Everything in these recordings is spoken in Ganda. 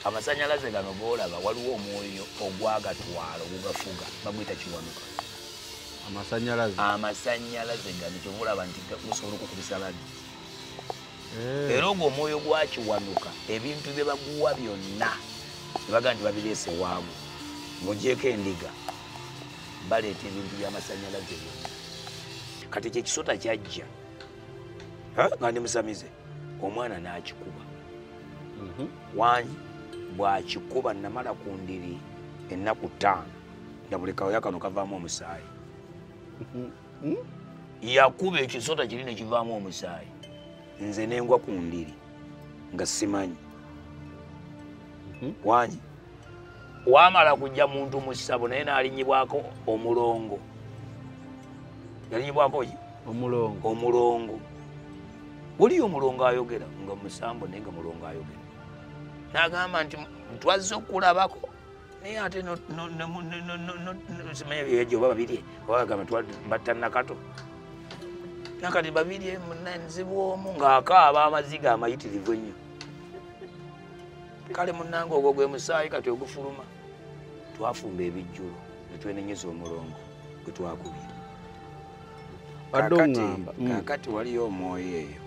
amasanyalaze gano golaba waliwo omwoyo ogwagatwala ogugafuga baguyita kiwanuka amasanyalaze amasanyalaze gano kyovulaba nti gusobola okukubisa ladi eh. era ogwo omwoyo gwakiwanuka ebintu bye baguwa byonna ebaga nti babireese waamu mugyeko endiga baleeta ebintu byamasanyalaze byonna kati ekyo ekisota kyajja nga ndi musamize omwana n'akikuba mhm. wangi bw'akikuba namala ku ndiri ennaku ttaano nga buli kawoya kano kavaamu omusaayi mhm. hmm? yakuba ekisota kiri ne kivaamu omusaayi nze nengwa ku ndiri nga simanyi mhm. wangi wamala kujja muntu mu ssabo naye n'alinyibwako omulongo yalinyibwako ki omulongo omulongo waliyo omulongo ayogera nga musambo naye nga mulongo ayogera n'agamba nti twazze okulabako naye ate simanya byejo oba babirye oba bagamba batta nakato nakati babirye munanzibwomu ng'akaaba amaziga amayitirivu ennyo kale munange ogwo gwe musaayi kati ogufuluma twafumba ebijjulo netwenenyeza omulongo gwe twakubira kakati mm. waliyo omwoyo eyo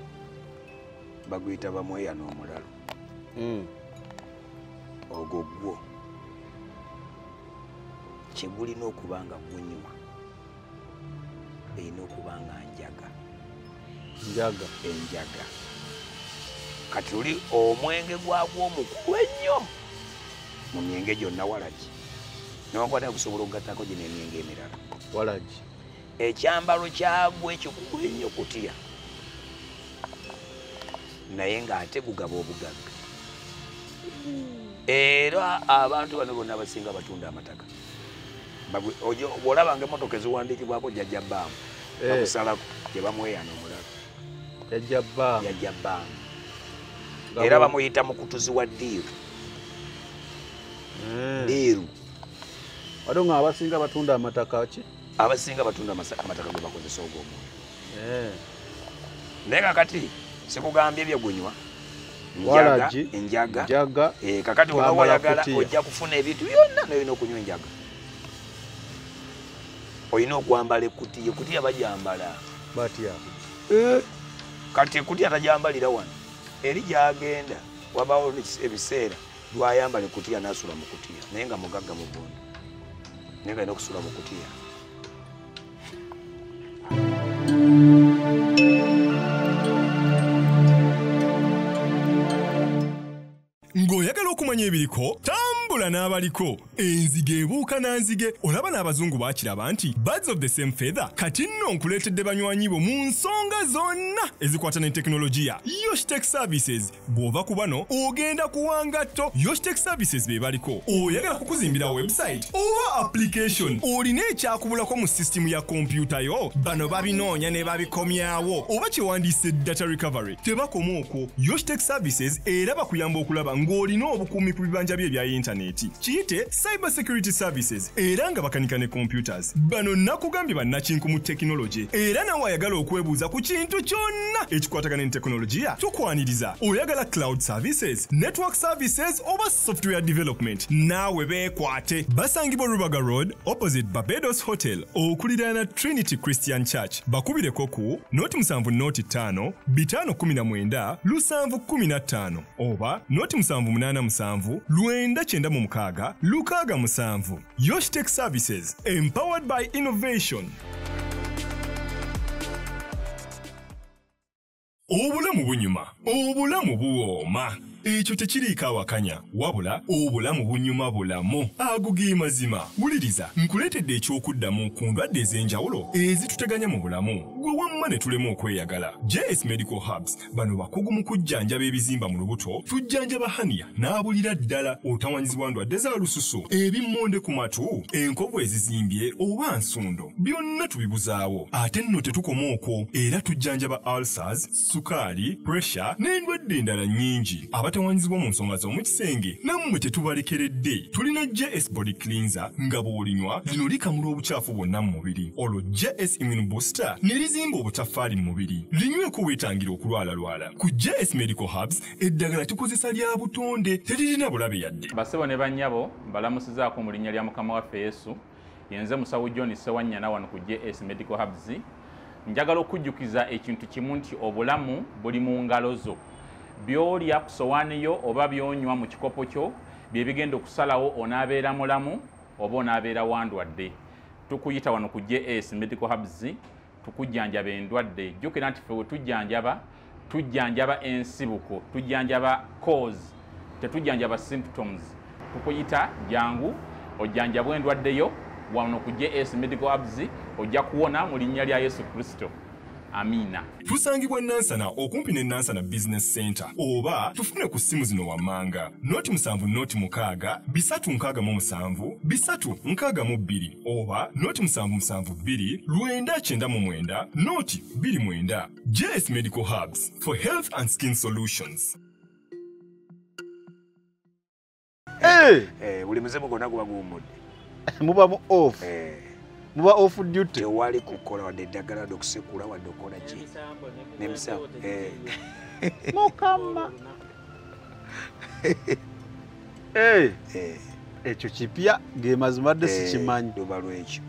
baguyita bamweya n'omulalo mm. ogwo gwo kyegulina okuba nga gunyuma erina okuba nga njaga njaga enjaga kati oli omwenge gwagwo omukulu ennyo mu myenge gyonna walagi newakwata okusobola okugattako gino emyenge emirala walagi ekyambalo kyagwo ekikulu ennyo kutya naye ng'ate gugaba obugagga era abantu bano bonna abasinga batunda amataka olabanga emotoka eziwandiikibwako jajja baamu eh. bakusalako gyebamweyana omulala jajja baamu jajja baamu era bamuyita mukutuzi wa diiru eh. diiru ate nga abasinga batunda amataka ki abasinga batunda amataka ge bakozesa ogwo omwoyo eh. naye kakati sikugambye byegunywa enjaga eh, kakati oba wayagala ojja kufuna ebintu byonna noyina okunywa enjaga olina okwambala ekutiya ekutiya bajambala batya eh. kati ekutiya tajambalira wano eri gyagenda wabawo ebiseera lwayambala ekutiya nasula mukutiya naye nga mugagga mugondo naye nga alina okusula mukutiya ng'oyagala okumanya ebiriko tambula n'abaliko enzige ebuuka na nzige olaba n'abazungu bakiraba nti birds of the same feather kati nno nkuleetedde banywanyi bo mu nsonga zonna ezikwata ne tekinologiya yoshtek services bw'ova ku bano ogenda kuwa ngatto yoshtec services be baliko oyagala kukuzimbira website oba application olina ekyakubulako mu sisitimu ya kompyuta yo bano babinoonya ne babikomyawo oba kyewandiise data recovery tebakoma okwo yoshtec services era bakuyamba okulaba ng'olina obukuumi ku bibanja bye ebya yintaneti kiyite Cyber Security Services era nga bakanika ne computers. Bano nakugambye bannakinku mu tekinologye era nawe ayagala okwebuuza ku kintu kyonna ekikwatagana ne tekinologiya tukwaniriza. Oyagala cloud services, network services oba software development naawe beekwate. Basangibwa Rubaga Road opposite Barbados Hotel okuliraana Trinity Christian Church. Bakubireko ku noti musanvu noti ttaano bitaano kumi na mwenda lusanvu kumi na ttaano. oba noti musanvu munaana musanvu lwenda kyenda mu mukaaga lukaaga musanvu yoshitech services empowered by innovation obulamu bunyuma obulamu buwooma ekyo tekiriiko awakanya wabula obulamu bunyuma bulamu ago ge mazima wuliriza nkuleetedde eky'okuddamu ku ndwadde ez'enjawulo ezituteganya mu bulamu gwe wamma ne tulema okweyagala js medical hubs bano bakugu mu kujjanjaba ebizimba mu lubuto tujjanjaba haniya n'abulira ddala otawanyizibwa ndwadde za lususu ebimmonde ku matu enkovu ezizimbye oba nsundo byonna tubibuzaawo ate nno tetukoma okwo era tujjanjaba ulcers sukaali pressure n'endwadde endala nnyingi abatawanyizibwa mu nsonga z'omu Senge nammwe tetubalekeredde tulina JS body cleanser nga bw'olinywa lino likamula obucaafu bwonna mu mubiri olwo JS immune booster ne lizimba obutaffaali mu mubiri linyweko weetangira okulwalalwala ku JS medical hubs eddagala tukozesa lya butonde teririna bulabe yadde. Bassebo ne bannyabo mbalamusizaako mu linnya lya Mukama waffe Yesu. yenze musawo john sewanyana wano ku js medical hubs njagala okujjukiza ekintu kimu nti obulamu buli mu ngalo zo byolya ku sowaani yo oba byonywa mu kikopo kyo bye bigenda okusalawo onaabeera mulamu oba onaabeera wandwadde tukuyita wano ku js medical hubs tukujjanjaba endwadde jjukira nti fe wetujjanjaba tujjanjaba ensibuko tujjanjaba cause tetujjanjaba symptoms tukuyita jangu ojjanjabwa endwadde yo wano ku js medical abs ojja kuwona mu linnya lya yesu kristo amiina tusangibwa nansana okumpi ne nansana business center oba tufune ku ssimu zino wammanga noti musanvu noti mukaaga bisatu nkaaga mu musanvu bisatu nkaaga mu bbiri oba noti musanvu musanvu bbiri lwenda kyenda mu mwenda noti bbiri mwenda js medical hubs for health and skin solutions eh! Eh, buli muzimu gonna guba guwummudde muba mu off eh. muba off duty tewali kukola wadde eddagala wadde okusekula wadde okukola ki nemisambo mukama ekyo kipya gemazima dde sikimanyi luba lwekyo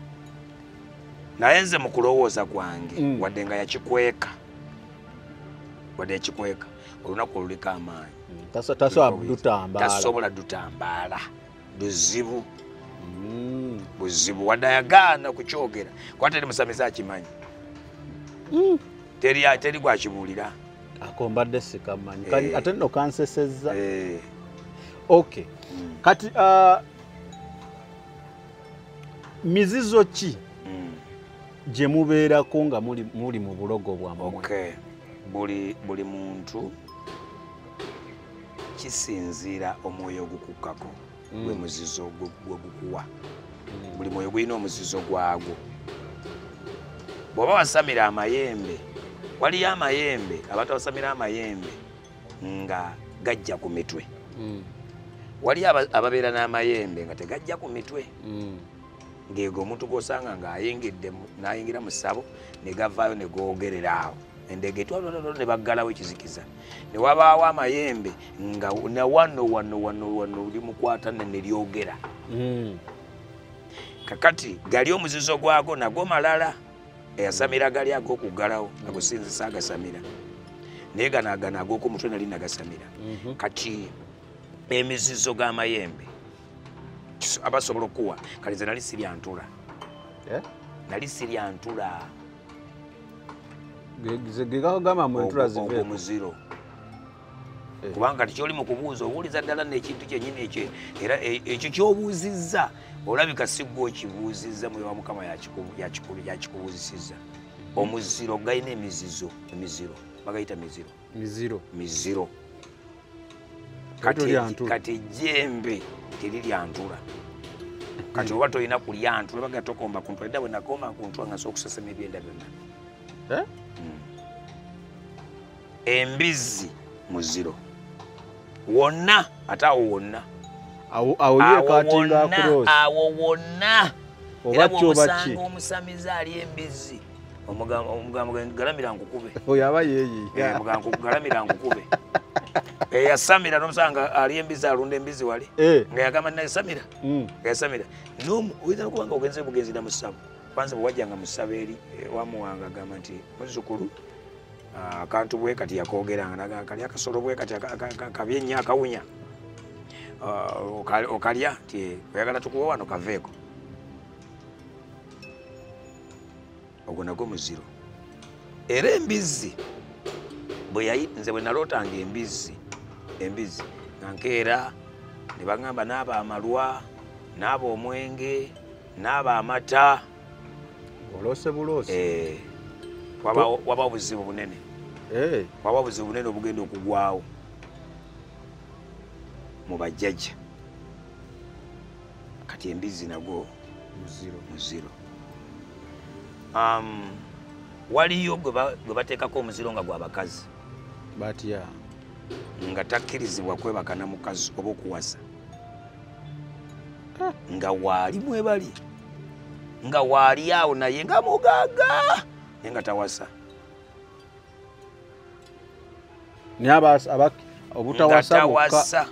naye nze mu kulowooza kwange mm. wadde nga yakikweka wadde yakikweka olunaku oluliko amaanyi mm, tasobola dutambaala buzibu mm. buzibu wadde ayagaana kukyogera kuba teri musamize akimanyi mm. teri teri gwakibuulira ako mbadde sikamanyi eh. ate nno kansesezza eh. ok mm. kati uh, mizizo ki mm. gye mubeerako nga muli mu bulogo bwammwe okay. buli, buli muntu kisinziira omwoyo ogukukkako mm. gwe muzizo gwegukuwa mm. buli mwoyo gulina omuzizo gwagwo bw'oba wasamira amayembe waliyo amayembe abantu abasamira amayembe nga gajja ku mitwe mm. waliyo ababeera n'amayembe nga tegajja ku mitwe ng'ego omuntu gw'osanga ng'ayingidde n'ayingira mu ssabo ne gavaayo ne googerera awo endeege etwalwalwalwa ne baggalawo ekizikiza ne wabaawo amayembe nga na wano wano wano wano limukwata ne ne lyogera mm. kakati gali omuzizo gwago nagwo malala eyasamira gali ag'okuggalawo nagusinzisa agasamira naye ganagana ag'oku mutwe nali nagasamira mhm. kati emizizo g'amayembe abasobola okukuwa kali nze nali siryantula eh? nali siryantula gegagamba mu entula zive muziro eh. kubanga tikyoli mu kubuuza obuuliza ddala nekintu kyenyini ekyo era e, ekyo kyobuuzizza olabika sigwa okibuuzizza muyowa mukama yakikubuuzisiza omuziro galina emizizo emiziro bagayita miziro miziro miziro kati ejjembe teriryantula kati oba tolina kulyantula baga tokomba kuntula dda bwenakoma kuntula nga sokusesema ebyenda byonna eh? hmm. embizzi muziro wonna ate awo wonna awo wonna era bwomusanga omusamize ali embizzi omugambo galamira nkukube oyo aba yeeyi eh, mugambo galamira nkukube eyasamira eh, nomusanga ali embizi alunda embizi wali eh. nga yagamba nayasamira mm. yasamira nomu oyinza nokuba nga ogenze bugenzi na musabu kwanza bwewajjanga musaba eri wamuwanga agamba nti muzukulu ah, akantu bwe kati yakogeranga naga kali akasolo bwe kati kabyenya akawunya ah, okalya nti oyagala tukuwa wano kaveeko ogwo nagwo muziro era embizzi bweyayi nze bwe nalootanga embizzi embizzi nga nkeera ne bagamba naaba amalwa naaba omwenge naaba amata oloose buloosi eh, waba obuzibu bunene eh. waba obuzibu bunene obugenda okugwawo mu bajjajja kati embizzi nagwo muziro um, waliyo gwe bateekako omuziro nga gwa bakazi batya nga takkirizibwa kwebaka na mukazi oba okuwasa ah. nga waali mwebali nga waali awo naye nga mugaaga naye nga tawasa naye obutawasa bokka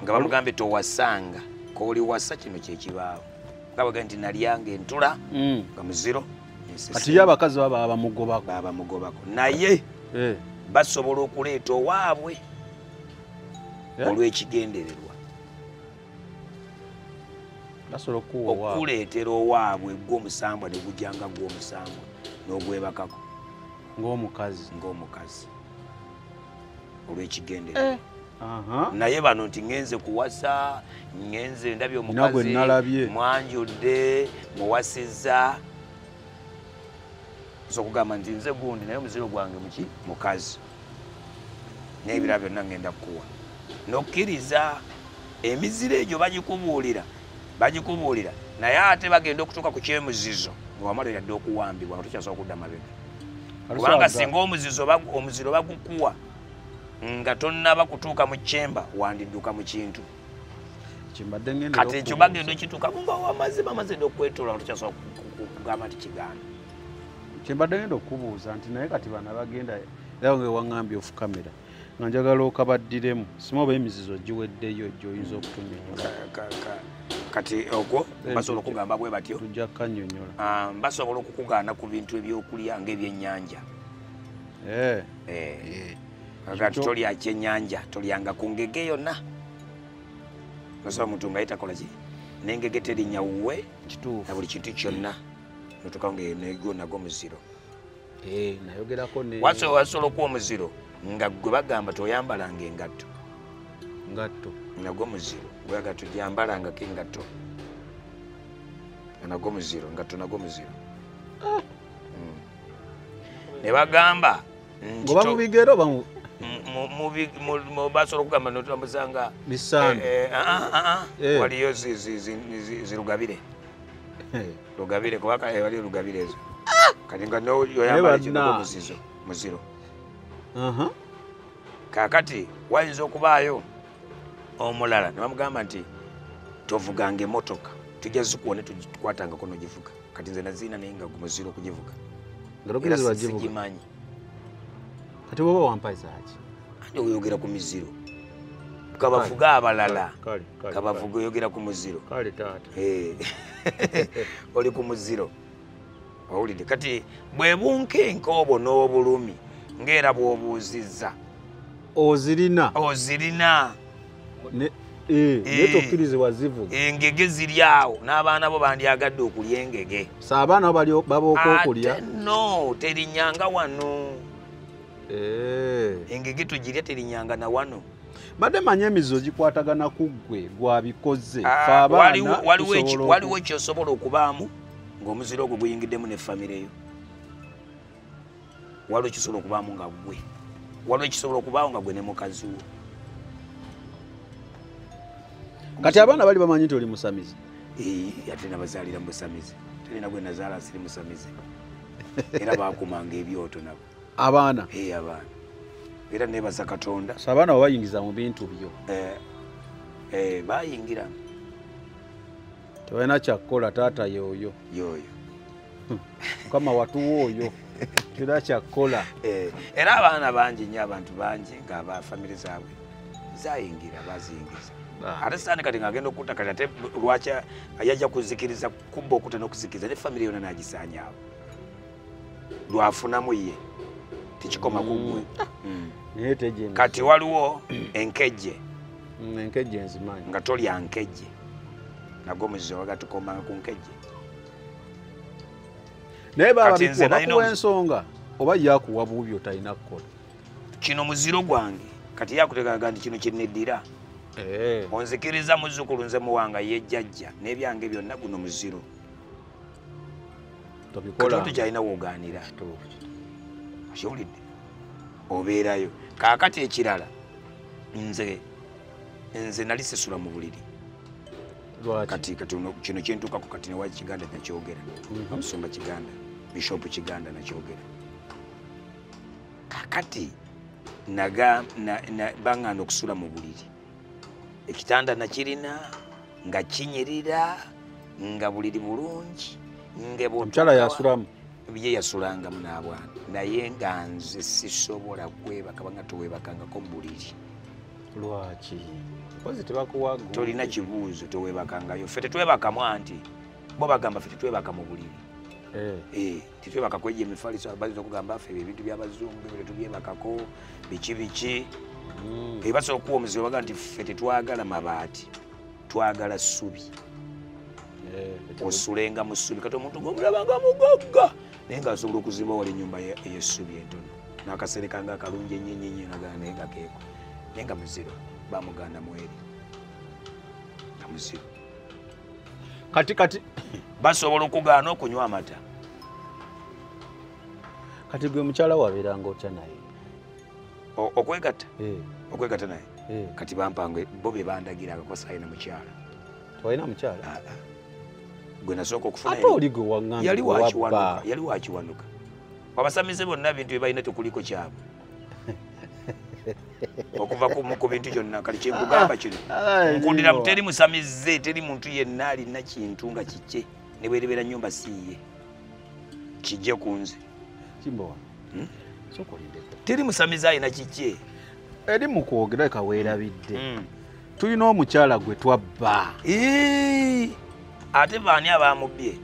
nga bamugambye towasanga kooli wasa kino kyekibaawo nga baga nti nalyanga entula mm. nga muziro kati yo abakazi baba bamugobako babamugobako naye eh. basobola okuleeta owaabwe eh. olw'ekigendererwa basobola okukuwa okukuleetera owaabwe gw'omusambwa ne gujja nga gw'omusambwa n'ogwebakako ng'omukazi ng'omukazi olw'ekigendera eh. naye bano nti ŋenze kuwasa ŋenze ndabye omukazi mwanjudde muwasizza okugamba nti nze gundi naye omuziro gwange muki mukazi n'ebirala byonna ŋŋenda kukuwa n'okkiriza emiziro egyo bagikubuulira bagikubuulira naye ate bagenda okutuuka ku kyemuzizo nga wamala yadde okuwambibwa nga tukyasobola okudda mabega kubanga singa omuzizo omuziro bagukuwa nga tonnaba kutuuka mu kyemba wandidduka mu kintu kati ekyo bagenda okituuka nga wamaze bamaze dde okwetoola nga tukyasobola kugamba nti kigaana kyembadde ngenda okubuuza nti naye kati bana bagenda era nga waŋambye ofu kamera nga njagala okabaddiremu sima oba emizizo giweddeyo gyoyinza okutunyonyola kati ogwo basobola okugamba bwe batyo tujja kukanyonyola ah, basobola okukugaana ku bintu ebyokulya ngaebyennyanja eh. eh. eh. kati tolya kyennyanja tolyanga ku ngege yonna osobola omuntu nga yetakola ki nengege terinya wuwe na buli kintu kyonna notuka nga enego nago muziro eh, nayogerako wasobola okuwa omuziro nga gwe bagamba toyambalanga engatto ngatto nago muziro gwaga tujambalangako engatto nago muziro ngatto nago muziro ah. hmm. ne bagamba ngoba mubigero bamu basobola okugamba notulamuzanga misandu eh, eh, ah, ah, waliyo zirugabire lugabire kuba kale wali lugabire ezo ah! kati nga noyoyambala kino muzizo muziro uh-huh. kakati wayinza okubaayo omulala nebamugamba nti tovuganga emotoka tujja zikuwa netukwatangako nogivuga kati nze naziina naye nga gumuziro okugivuga era sigimanyi kati woba wampazaki ani oyogera ku miziro kabavuge abalala kabavuge oyogera ku muziro eh. oli ku muziro owulidde kati bwebunkenka obwo n'obulumi ngaera bwobuuzizza ozirina ozirina ne eh, eh. ne tokirize wazivu engege ziri awo n'abaana bo bandyagadde okulya engege so abaana bali babooka okulya no terinyanga wano eh. engege tugirya terinyanga na wano badde manyi emizizo gikwatagana ku ggwe gwabikoze ah, waliwo kyosobola okubaamu ng'omuziro ogwo guyingiddemu ne famireyo waliwo kisobola okubaamu nga gwe waliwo kisobola okubaawo nga gwe ne mukazi wo kati abaana bali bamanyi nti oli musamizi ate nabazaalira musamizi talina gwe nazaala siri musamizi era bakumanga ebyoto nabo abaana abaana era nebaza katonda so abaana babayingiza mu bintu byo eh, eh, bayingira tebalina kyakukola taata yooyo yooyo hmm. mukama watuwa oyo tera kyakukola eh, era abaana bangi nyo abantu bangi nga ba famiry zaabwe zayingira baziyingiza ate sitaani kati ngaagenda okutta kati ate lwaki yajja kuzikiriza kubba okuta n'okuzikiriza ne famiry yona nagisaanyaawo lwafunamu ye tekikoma kugwe mm. mm. kati waliwo enkejje mm, enkejje nzimanyi nga tolya nkejje nago muzizo wagatukomanga ku nkejje naye babakuwa ensonga oba yakuwa bubi otalina kukola kino muziro gwange kati yakuteekaga nti kino kyeneddira eh. onzikiriza muzzukulu nze muwanga yejjajja n'ebyange byonna guno muziro tobikola kati kyalina woganira kiwulidde obeerayo kaakati ekirala nze nze nali sisula mu buliri kati kati kino kyentuukako kati newa kiganda nakyogera mhm. amusumba kiganda bishopu kiganda nakyogera kakati naga banganda okusula mu buliri ekitanda nakirina nga kinyirira nga buliri bulungi ngeomukyala yasulamu ye yasulangamu n'abwana naye nga nze sisobola kwebaka banga towebakangako mubuliri lwaki kozi tebakuwa tolina kibuuzo tewebakangayo fe tetwebakamu anti bo bagamba fe tetwebaka mu buliri eh. Eh. tetwebakako egyo emifaliso bayinza okugamba ffe ebintu byabazungu byo tetubyebakako biki biki hmm. ebasobola okuwa omuzibe baga nti ffe tetwagala mabaati twagala ssubi eh, osulenga mu ssubi kati omuntu gomulabanga mugagga naye nga asobola okuziba wali enyumba eyessubi entono nakasereka nga akalungi enyenyenye nagana naye nga keeko naye nga muziro bamuganda mweri nga muziro kati kati basobola okugaana okunywa amata kati gwe mukyala wabeeranga otya naye okwegatta eh. okwegatta naye eh. kati bampanga bo be bandagira akakosa alina mukyala twalina mukyala ah, ah. gwe nasooka okufunayali wakiwanuka abasamize bonna bintu byebalina tekuliko kyabwe okuva kumu ku bintu kyonna kali kyenkugamba kino nkundira teri musamize teri muntu yenna alina kintu nga kikye ne bwerebeera nyumba siiye kijje ku nze hmm? teri musamize alina kikye eri mu kwogera kaweerabidde hmm. tulina omukyala gwe twabba ate baani abamubbye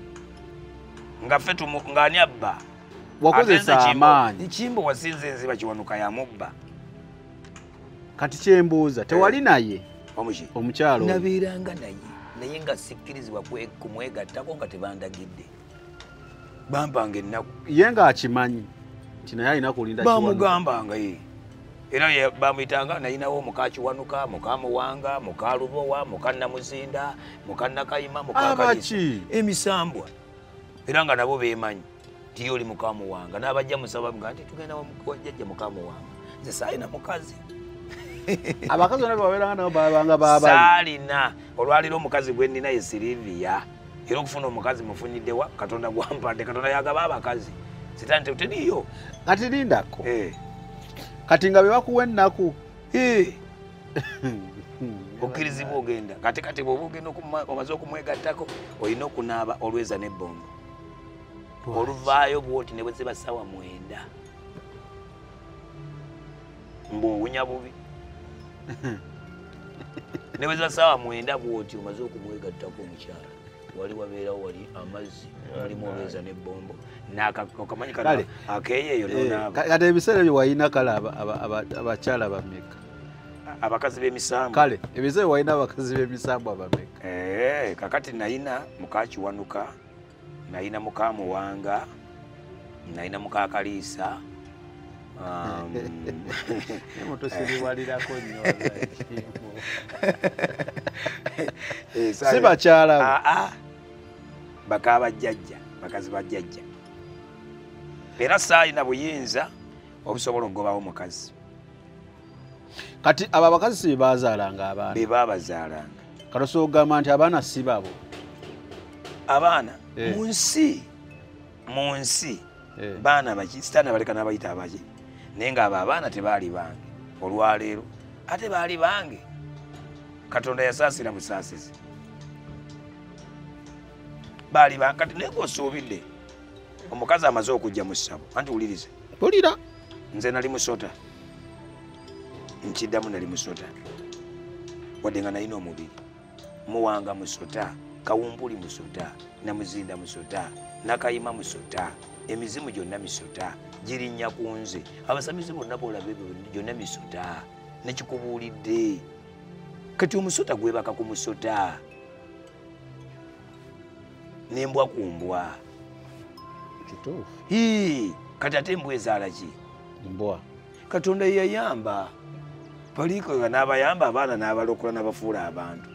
nga fe ngaani abba wakozesa amaanyi kimbo wasinze enziba kiwanuka ya mubba kati kyembuuza tewali eh. naye omukyalo nabeeranga naye naye nga sikkirizibwa kumwegattako nga tebandagidde bampanga ennaku ye nga akimanyi nti naye alina kulinda bamugambanga ye era bamuyitanga nayinawo muka kiwanuka muka muwanga muka lubowa muka namuzinda muka nakayima mukaki emisambwa era nga nabo bemanyi nti ye oli mukamuwanga n'abajja musaba nga nti tugenda wajjajja mukamuwanga nze saalina mukazi abakazi bona bebabeeranga nabo babanga babali saalina olwaliro omukazi gwe nnina ye sirivia era okufuna omukazi mufunyidde wa katonda gwampadde katonda yagaba abakazi sitaani teteriyo kati lindako eh. kati nga bebakuwa ennaku eh. okkirizibwa ogenda kati kati bwoba ogenda omaze okumwegattako olina okunaaba olweza nebbombo oluvaayo bwoti ne bweziba sawa mwenda mbu owunya bubi ne bweziba sawa mwenda bwoti omaze okumwegattako omukyala wali wabeerawo wali amazzi mulimu olweza nebbombo nakamanyi kale akeeyo eyo eh, nonaaba kati ebiseera ebyo walina kale abakyala bameka abakazi b'emisambwa kale ebize walina abakazi b'emisambwa bameka eh, kakati nayina mukakiwanuka nayina mukamuwanga nayina mukakaliisa um, mutusiriwalirako nyo eh, si bakyala ah, ah. bakaba jjajja bakazi ba jjajja era saalina buyinza obusobola okugobawo omukazi kati abo abakazi si bebazaalanga abaana bebabazaalanga kati osobola okugamba nti abaana si babo abaana eh. mu nsi mu nsi eh. baana baki sitaani abaleka n'abayita abaki naye nga abo abaana tebaali bange olwaleero ate baali bange katonda yasaasira busaasizi baali bankati naye ngaosuubidde omukazi amaze okujja mu ssabo anti wuliriza tolira nze nali musota nkiddamu nali musota wadde nga nalina omubiri muwanga musota kawumpuli musota namuzinda musota nakayima musota emizimu gyonna misota girinnya ku nze abasamize bonna boolaba ebyo gyonna misota nekikubuulidde kati omusota gwebaka ku musota nembwa ku mbwa kati ate embwa ezaala ki mbwa katonda yeyayamba baliikoga n'abayamba abaana n'abalokola n'abafuula abantu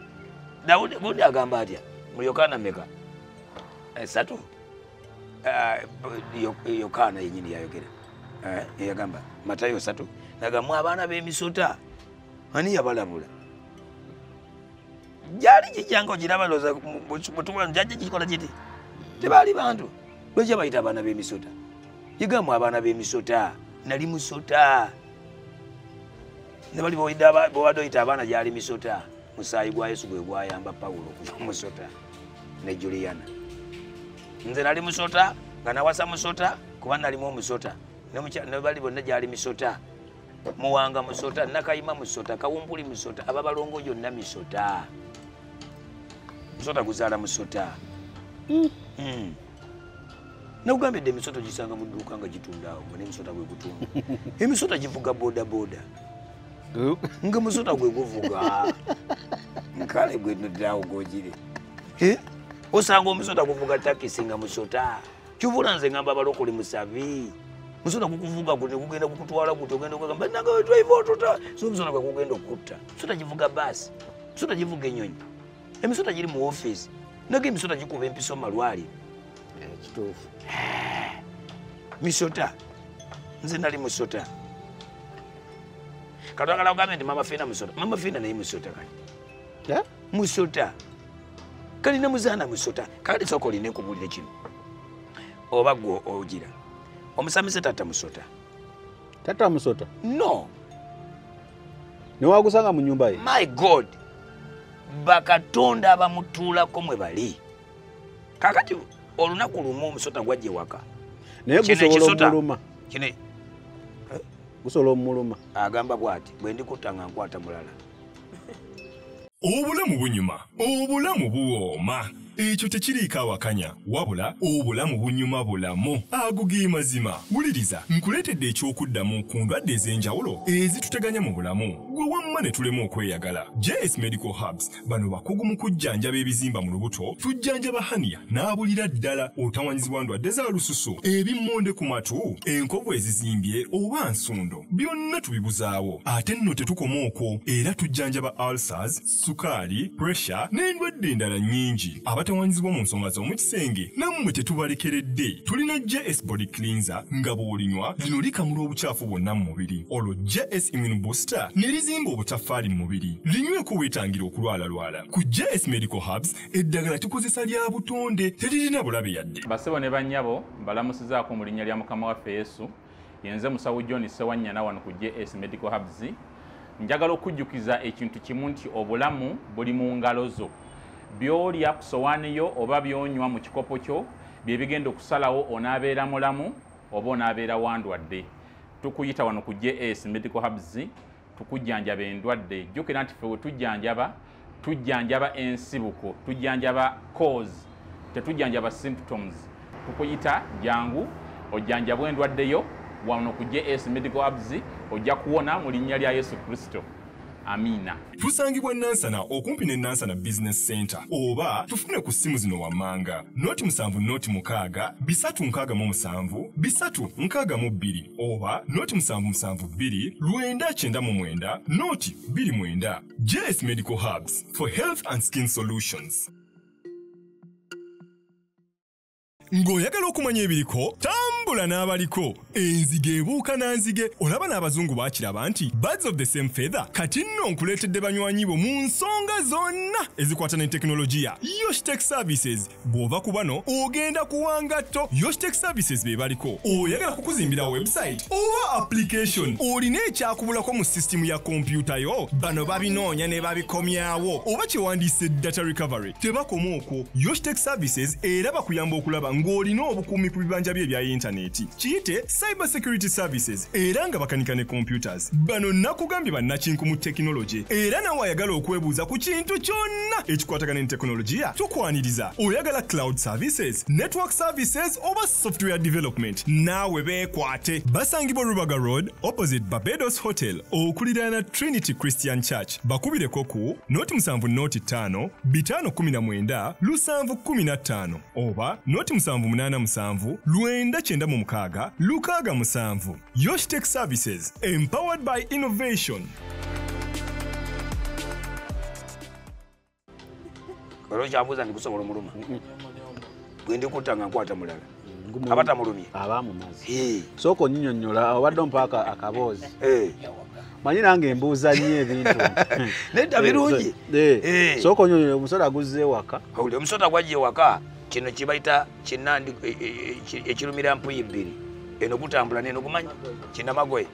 dawudi bundi agamba atya mu yokaana meka esatu eh, eh, yokaana yenyini yayogera eh, eyagamba matayo satu nagamwa abaana b'emisota ani yabalabula gyali gijjanga ogiraba loza mutuwa jajja gikola giti tebaali bantu lwekya bayita abaana b'emisota yigamu abaana b'emisota nali musota nebali bwewade oyita abaana gyali misota musaayi gwa yesu gwe gwayamba pawulo okuva musota ne juliana nze nali musota nga nawasa musota kuba nalimu omusota nebali bonna gyali misota muwanga musota nakayima musota kawumpuli musota ababalongo yonna misota musota guzaala musota hmm. Hmm. nakugamba edde emisota gisanga mu dduuka nga gitundaawo nga nemisota gwe gutunda emisota givuga bodaboda nga musota gwe guvuga nkale gwe nodaawo gogire eh? osanga omusota guvuga takisi nga musota kyovula nze ngamba abalokole musabi musona kukuvuga kuti kugenda kukutwala kuti ogenda kugamba nanga wetwaiva otuta so musona kwekugenda okutta musota kivuga basi musota kivuga enyonyi emisota giri mu office naga emisota gikuba empiso malwaliro eh, kituufu eh, misota nze nali musota katwagala kugambe nti mama fina musota mama fina naye musota kati eh? musota kali ne muzaana musota kale sooka olina ekubulire kino oba gwe ogira omusamize taata musota taata musota no newagusanga mu nyumba ye my god bakatonda abamutuulako mwe bali kakati olunaku lumu omusota gwajja ewaka naye gusobola omuluma gusobola omuluma agamba bwati bwendikutta nga nkwata mulala obulamu bunyuma obulamu buwooma ekyo tekiriiko awakanya wabula obulamu bunyuma bulamu ago ge mazima wuliriza nkuleetedde eky'okuddamu ku ndwadde ez'enjawulo ezituteganya mu bulamu gwe wamma ne tulema okweyagala js medical hubs bano bakugu mu kujjanjaba ebizimba mu lubuto tujjanjaba haniya n'abulira ddala otawanyizibwa ndwadde za lususu ebimmonde ku matu enkovu ezizimbye oba nsundo byonna tubibuzaawo ate nno tetukoma okwo era tujjanjaba ulcers sukaali pressure n'endwadde endala nnyingi abatawaanyizibwa mu nsonga z'omu kisenge nammwe tetubalekeredde tulina js body cleanser nga bw'olinywa lino likamula obucaafu bwonna mu mubiri olwo js immune booster ne lizimba obutaffaali mu mubiri linyweko weetangira okulwalalwala ku js medical hubs eddagala tukozesa lya butonde teririna bulabe yadde basebo ne bannyabo mbalamusizaako mu linnya lya mukama waffe yesu yenze musawo john sewanyana wano ku js medical hubs njagala okujjukiza ekintu kimu nti obulamu buli mu ngalo zo byolya ku sowaani yo oba byonywa mu kikopo kyo bye bigenda okusalawo onaabeera mulamu oba onaabeera wandwadde tukuyita wano ku js medical hubs tukujjanjaba endwadde jjukira nti fe wetujjanjaba tujjanjaba ensibuko tujjanjaba cause tetujjanjaba symptoms tukuyita jangu ojjanjabwa endwadde yo wano ku js medical abs ojja kuwona mu linnya lya yesu kristo amiina tusangibwa nansana okumpi ne nansana business center oba tufune ku ssimu zino wammanga noti musanvu noti mukaaga bisatu nkaaga mu musanvu bisatu nkaaga mu bbiri oba noti musanvu musanvu bbiri lwenda kyenda mu mwenda noti bbiri mwenda js medical hubs for health and skin solutions ng'oyagala okumanya ebiriko tambula n'abaliko enzige ebuuka na nzige olaba n'abazungu bakiraba nti birds of the same feather kati nno nkuleetedde banywanyi bo mu nsonga zonna ezikwata ne tekinologiya yoshtek services bw'ova ku bano ogenda kuwa ngatto yoshtec services be baliko oyagala kukuzimbira website oba application olina ekyakubulako mu sisitimu ya kompyuta yo bano babinoonya ne babikomyawo oba kyewandiise data recovery tebakoma okwo yoshtec services era bakuyamba okulaba ng'olina obukuumi ku bibanja bye ebya yintaneti kiyite Cyber Security Services era nga bakanika ne computers. Bano nakugambye bannakinku mu tekinologye era nawe ayagala okwebuuza ku kintu kyonna ekikwatagana ne tekinologiya tukwaniriza. Oyagala cloud services, network services oba software development naawe beekwate. Basangibwa Rubaga Road opposite Barbados Hotel okuliraana Trinity Christian Church. Bakubireko ku noti musanvu noti ttaano bitaano kumi na mwenda lusanvu kumi na ttaano. oba noti musanvu munaana musanvu lwenda kyenda mu mukaaga lukaaga musanvu yoshitech services empowered by innovation era okyabuuza nti gusobola omuluma gwendikutta nga nkwata mulala abatamulumye abaamumazi sooka onyinyonyola obadde ompaaka akaboozi manyi nange embuuza nnyo ebintu nedda birungi eh, eh, eh. sooka onyonyo omusota aguzza ewaka uli omusota gwajja ewaka kino kyebayita kinandi e, e, e, ekirumira mpuyi bbiri eno gutambula neno gumanyi kinamagoye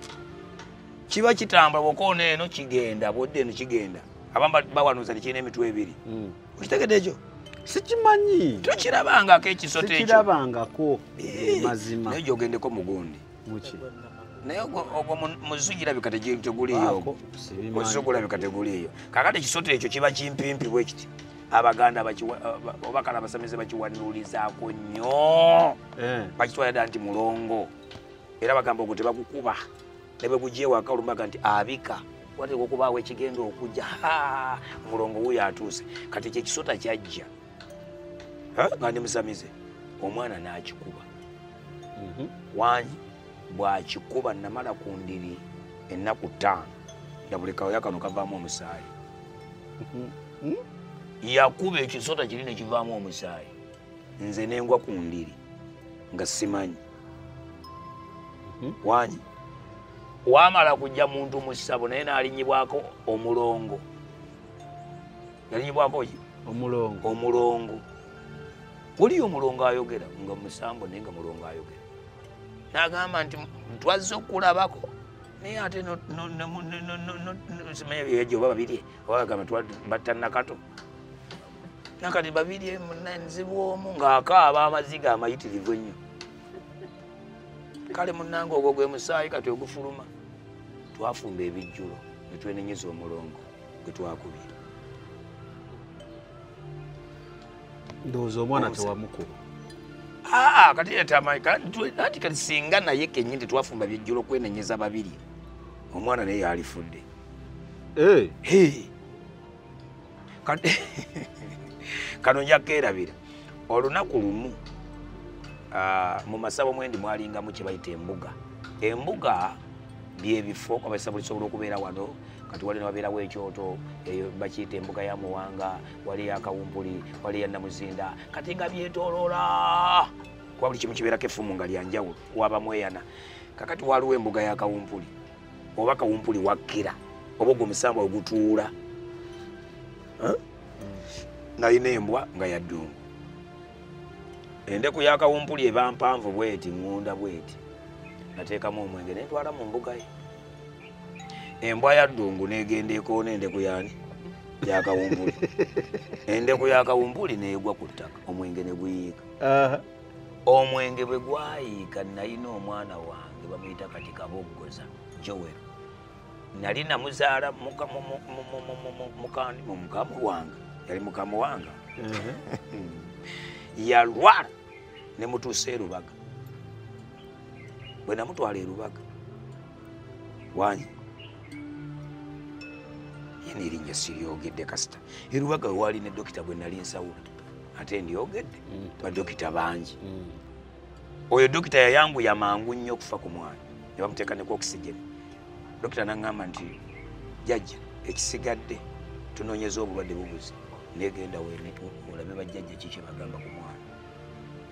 kiba kitambula bwokoona eno kigenda bwodda eno kigenda abamu bawanuza tekirina emitwe ebiri hmm. okitegedde ekyo sikimanyi tokirabangako ekisota ekyo kirabangako mazima naye gyogendeko mugundi muki naye ogwo muzu girabika teguliyo muzu gulabika teguliyo kakati ekisota ekyo kiba kimpimpi bwekiti abaganda obakala abasamize bakiwanulizaako nnyo eh. bakitwala dda nti mulongo era bagamba ogwo tebagukuba ne bwe gugyewaka olumbaga nti abika wateeka okubaawo ekigenda okujja mulongo wuyo atuuse kati ekyo ekisota kyajja nga ndi musamize omwana n'akikuba mhm. wangi bw'akikuba namala ku ndiri ennaku ttaano nga buli kawoya kano kavaamu omusaayi mhm. hmm? yakuba ekisota kiri ne kivaamu omusaayi nze nengwa ku ndiri nga simanyi mhm. wangi wamala kujja muntu mu ssabo naye n'alinyibwako omulongo yalinyibwa mpoki omulongo omulongo wuli omulongo ayogera nga musambo naye nga mulongo ayogera nagamba nti twazze okulabako naye ate simanya byejo oba babirye oba bagamba batta nakato nakati babirye nzibu omu ng'akaaba amaziga amayitirivu ennyo kale munange ogwo gwe musaayi kati ogufuluma twafumba ebijjulo ne twenenyeza omulongo gwe twakubye ndowooza omwana tewamukuba aa kati yetamaanti kati singa naye kenyini tetwafumba byejjulo kwenenyeza babiri omwana naye yalifudde kano njakeerabira olunaku lumu Ah, mu masabo mwendi mwalingamu kye bayita embuga embuga byebifo abasabulisobola okubeera wano kati wali newabeerawo ekyoto eyo bakiyita embuga ya muwanga wali eyakawumpuli wali eya namuzinda kati nga byetoloola kuba buli kimu kibeerako effumu nga lyanjawulo waba mweyana kakati waliwo embuga ya kawumpuli oba kawumpuli wakkira oba ogwo omusambwa ogutuula nalina embwa nga yaddungu endeku ya kawumpuli eba mpanvu bweti ŋŋunda bweti nateekamu omwenge nentwala mu mbuga ye embwa ya ddungu negenda ekoona endeku yani yakawumbuli endeku yakawumbuli negwa ku ttaka omwenge ne guyiika omwenge bwe gwayiika nalina omwana wange bamuyita kati kaboggoza jowel nali namuzaala mukamu wange yali mukamu wange yalwala nemutuusa erubaga bwe namutwala erubaga wanyi yena erinnya siryogedde kasita erubaga wewaali ne dokita gwe nali nsawula ate ndyogedde mm. badokita bangi mm. oyo dokita yayanguya mangu nnyo okufa ku mwana ne bamuteeka neku okisigeni dokita naŋŋamba nti jajja ekisigadde tunoonyeza obulwadde bubuzi negenda olabe bajjajja ki kyebagamba ku mwana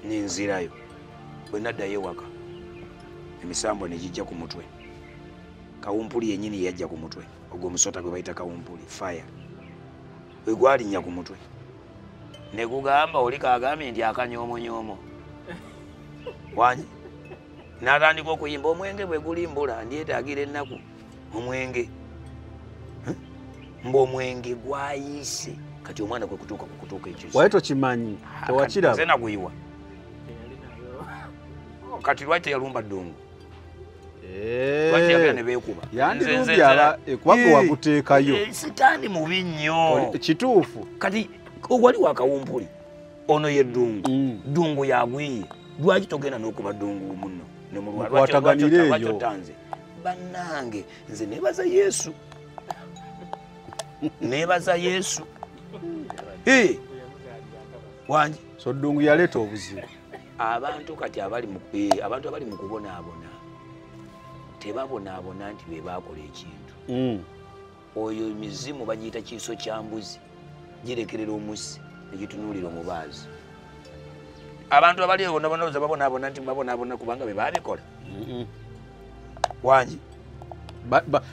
ninzirayo bwe naddayo ewaka emisambwa ne gijja ku mutwe kawumpuli yennyini yeyajja ku mutwe ogwo omusota gwe bayita kawumpuli fire we gwalinnya ku mutwe ne gugamba oli kagambye nti akanyoomonyoomo wanyi natandika okuyimba omwenge bwe gulimbula ndyetaagira ennaku omwenge mbu omwenge gwayiise kati omwana kwe kutuuka ku kutuuka ekiwaye tokimanyi tewakiraba naguyiwa kati lwaki teyalumba ddungu yandirubyala ekubanga wakuteekayo eh, sitaani mubi nnyo kituufu kati wali wakawumpuli ono ye ddungu mm. ddungu yagwiye lwaki togenda n'okuba ddungu muno nemulwalwataganire eyo bannange nze nebaza yesu nebaza yesu wangi so ddungu yaleeta obuzibu abantu kati abali abantu abali mu kubonaabona tebabonaabona nti be baakola ekintu mm. oyo mizimu bagiyita kiiso kya mbuzi girekerera omusi negitunuulira omubaazi abantu abali ebonabonaloza babonabona nti babonabona kubanga bebabikola wangi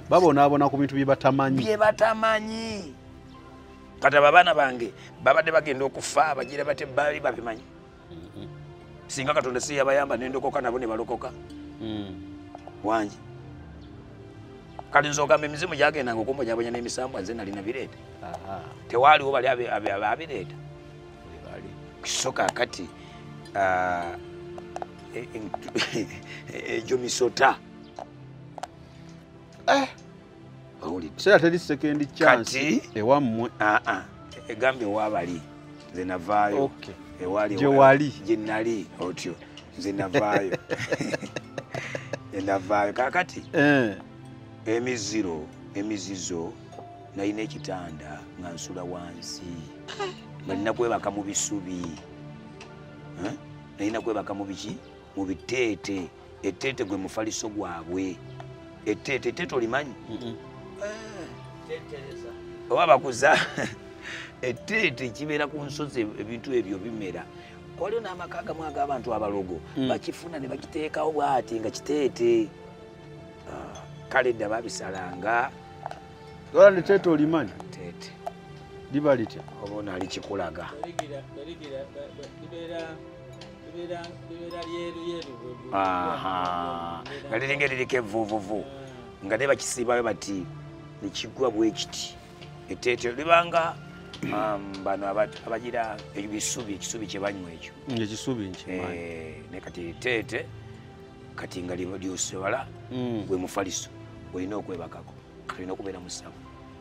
babonabona ku bintu byebatamanyi byebatamanyi kati abo abaana bange babadde bagenda okufa bagira bate bali babimanyi singa katonda si yabayamba nendokoka nabo ne balokoka hmm. wangi kati nze ogamba emizimu gyagendanga okumbonyabonya n'emisambwa nze nalina bireeta tewaaliwo bali ababireeta kiso kakati ah, e, e, e, egyo misota eh. kiseera teri sekendi chansi ewammwe ah, ah. egambye waabali nze navaayo gyewali gyenali otyo nze navaayo enavaayo kakati eh. emiziro emizizo nalina ekitanda nga nsula wansi nga nina kwebaka mu bisubi eh? nalina kwebaka mu biki mu biteete eteete gwe mufaliso gwabwe eteete eteete olimanyi oba bakuza eteete kibeera ku nsozi ebintu ebyo bimera waliwo n'amaka agamu ag'abantu abalogo mm. bakifuna ne bakiteekawo bwati nga kiteete ah, kale dda babisalanga ola neteete olimanyi teete liba litya oba onaali kikulaga nga liringa eririko evuvuvu nga ne bakisiibayo bati nekigwa bwekiti eteetero libanga um, bano abagira ebisubi ekisubi kyebanywa ekyo ekisubi eh, ne kati eteete kati nga lyosibala mm. gwe mufaliso olina okwebakako olina okubeera musabu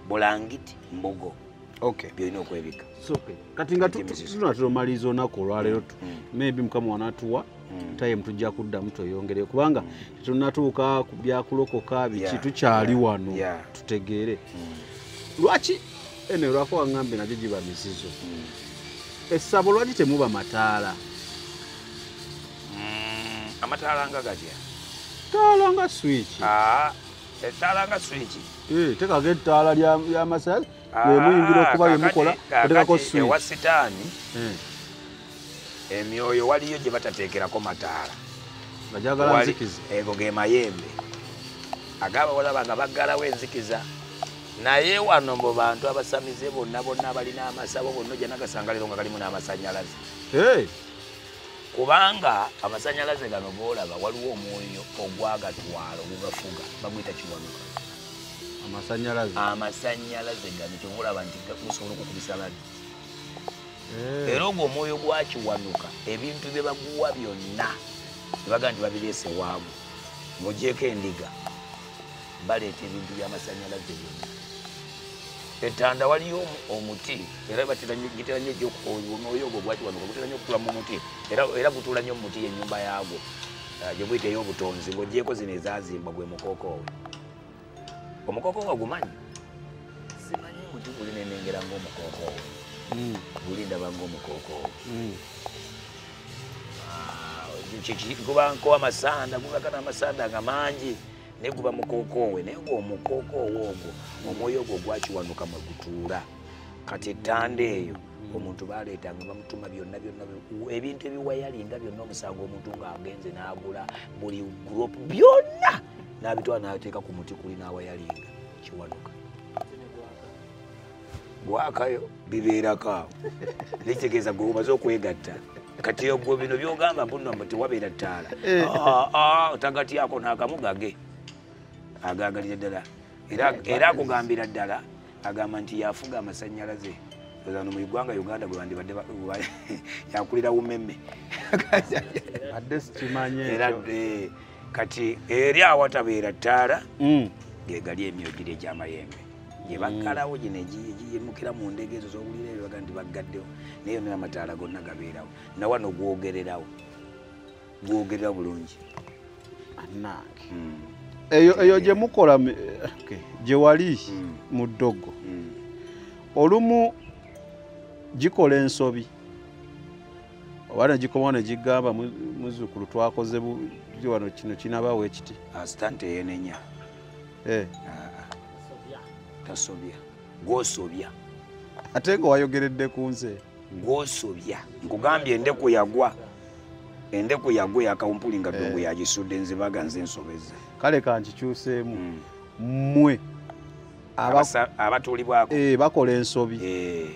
bulangiti mbogo okay byolina okwebika kati nga tunatera omaliriza olunaku olwaleero mm. mm. maybe mukama wanatuwa mm. time tujja kuddamu tweyongere kubanga tetunatuuka ku byakulokoka biki tukyali wano tutegeere lwaki ene lwako waŋambe nagyo giba mizizo essabo lwaki temuba mataala amataala nga gatya taala nga swiki ah. ettaala nga swiki eh, tekako ettaala lyamasanyalaze ah, emuyingira okuba yemukola otekako swiwa sitaani eh. emyoyo waliyo gye batateekerako mataala bajagala nzikiza ego ge mayembe agabaolaba nga baggalawo enzikiza naye wano mu bantu abasamize bonna bonna abalina amasabo bonna ojja nagasangaliro nga galimu n'amasanyalaze kubanga amasanyalaze gano golaba waliwo omwoyo ogwagatwala ogugafuga baguyita kiwanuka amasanyalaze amasanyalaze gano kyogolaba nti gusobola okukubisa bali eh. era ogwo omwoyo gwakiwanuka ebintu bye baguwa byonna ebaga nti babireese waamu mugyeko endiga baleeta ebintu byamasanyalaze byona etanda waliyo omuti era gitera nyo omwoyo ogwo gwaki wano gutera nyo okutula mu muti era gutula nyo mumuti yenyumba yagwo ah, gyemuyita eyobutonzi ngaogyeko zino ezazimbwa gwe mukokoowe omukokoowe ogumanyi simanyi muti guli nenengera ngaomukokoowe hmm. guli ndaba ngaomukokoowe hmm. ah, kuba nkowa amasanda gubaka namasanda nga mangi naye guba mukookoowe naye nga omukookoowe ogwo omwoyo ogwo gwakiwanuka mwe gutuula kati ettanda eyo omuntu baleetanga bamutuma byonna byonna ebintu ebiwayalinga byonna omusango omuntu ng'agenze n'agula buli guropu byonna n'abitwala n'ateeka ku muti kuli n'awayalinga kiwanuka gwakayo bibeerako awo nekitegeeza gwe omaze okwegatta kati ogwo bino byogamba mbuno mbu tewabeera ttaala eh. ah, ah, otagatyako nakamu gage agagalira ddala era akugambira ddala agamba nti yafuga amasanyalaze ano mu igwanga uganda gwebandibadde yakulira umeme adde sikimanye kati eri awatabeera ttaala mm. gegali emyogiri egyamayembe gyebaggalawo mm. gino egiyimukira mu ndege ezo zowulira ebyo baga nti baggaddewo naye yona amataala gonna gabeerawo nawano gwogererawo gwogerera bulungi anange mm. eyo eyo gyemukola gyewali mm. mu ddogo olumu gikola ensobi oba negikomawo negigamba muzukulu twakoze buti wano kino kinabawo ekiti asitante yenenya eh. ah, ah. tasobya gwosobya ate nga wayogeredde ku nze gwosobya nkugambye endeku yagwa endeku yagwa eyakawumpuli nga ddungu eh. yagisudde nzibaga nze nsobeza kale kankikyuseemu mmwe mm. abatuulibwako eh, bakola ensobi eh,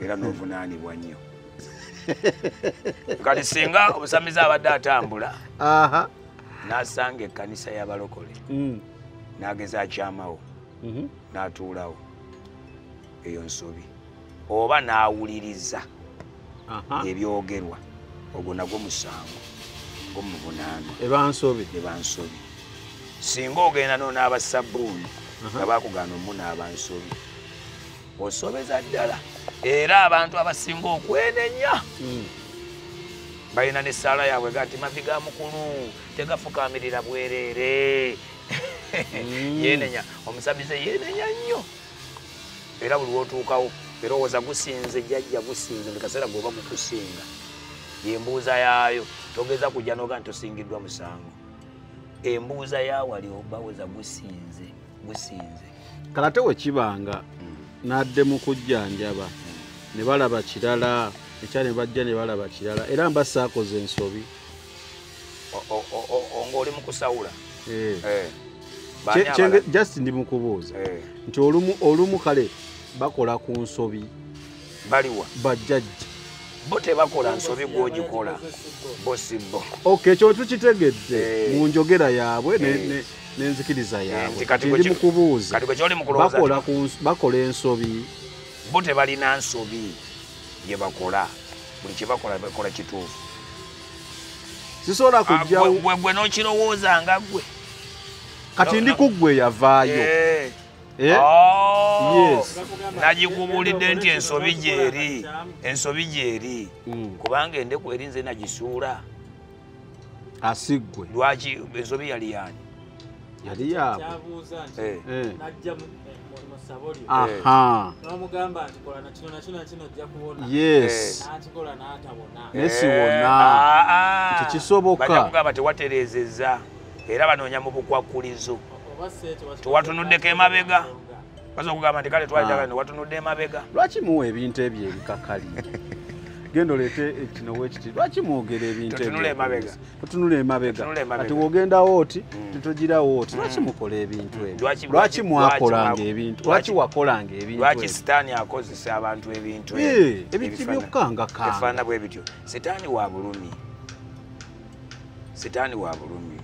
era novunaanibwa nnyo kati singa omusamize abadde atambula nasanga ekkanisa y'abalokole mm. nageza akyamawo mhm. natuulawo eyo nsobi oba n'awuliriza ebyogerwa ogwo nagwo musango gwomuvunaanwa ebansobi ebansobi singa ogenda nonaaba sabbuuni nga bakugaana omunaaba nsobi osobeza ddala era abantu abasinga okwenenya hmm. balina nesaala yaabwe gati mavi ga mukulu tegafukamirira bwerere hmm. yenenya omusamize yenenya nnyo era buli wotuukawo erowooza gusinze jajja gusinze buli kaseera gweoba mukusinga yembuuza yaayo togeza kujja noga nti osingiddwa musango embuuza yawali obaweza gusinze gusinze kalate wekibanga hmm. nadde mu kujjanjaba hmm. ne balaba kirala ekya ne bajja ne balaba kirala era mba saakoze ensobi ng'oli mu kusawula eh. Eh. just ndi mu kubuuza eh. nti olumu kale bakola ku nsobi baliwa bajjajja bo tebakola nsobi gwogikola bo si bo ok ekyo tukitegedde mu njogera yaabwe nenzikiriza yaabwekiri mu kubuuza bakola ensobi bo tebalina nsobi gye bakola buli kyebakola bakola kituufu sisobola ah, kujjawogwe nokirowooza nga gwe kati ndi ku gwe yavaayo eh. Eh? Oh. nagikubulidde nti ensobi gyeri ensobi gyeri mm. kubanga endeku eri nze nagisuula asigwe lwaki ensobi yali yani yali yaabwe kyabuuza nti Eh. Eh. najja mu- eh, mu- mu ssabo lyo aha n'omugamba nti kola na kino na kino na kino ojja kuwona yes n'akikola n'atabona naye siwona Nti kisoboka. bajja kugamba tewatereezezza era banoonya mu bukwakkulizo oba si ekyo bakikola- Tewatunuddeko emabega. baza okugamba nti kale twajagala ne watunudde emabega lwaki muwa ebintu ebyo ebikakali genda oleete ekino wekiti lwaki mwogera ebintu ebyo Totunula emabega. otunula emabega kati wogenda wooti mm. tetugira wooti mm. lwaki mukola ebintu mm. ebyo lwaki mwakolanga ebintu lwaki wakolanga ebintu sitaani akozesa abantu ebintu ebintu byokukangakaefaana bwe bityo sitaani wa bulumi sitaani wa bulumi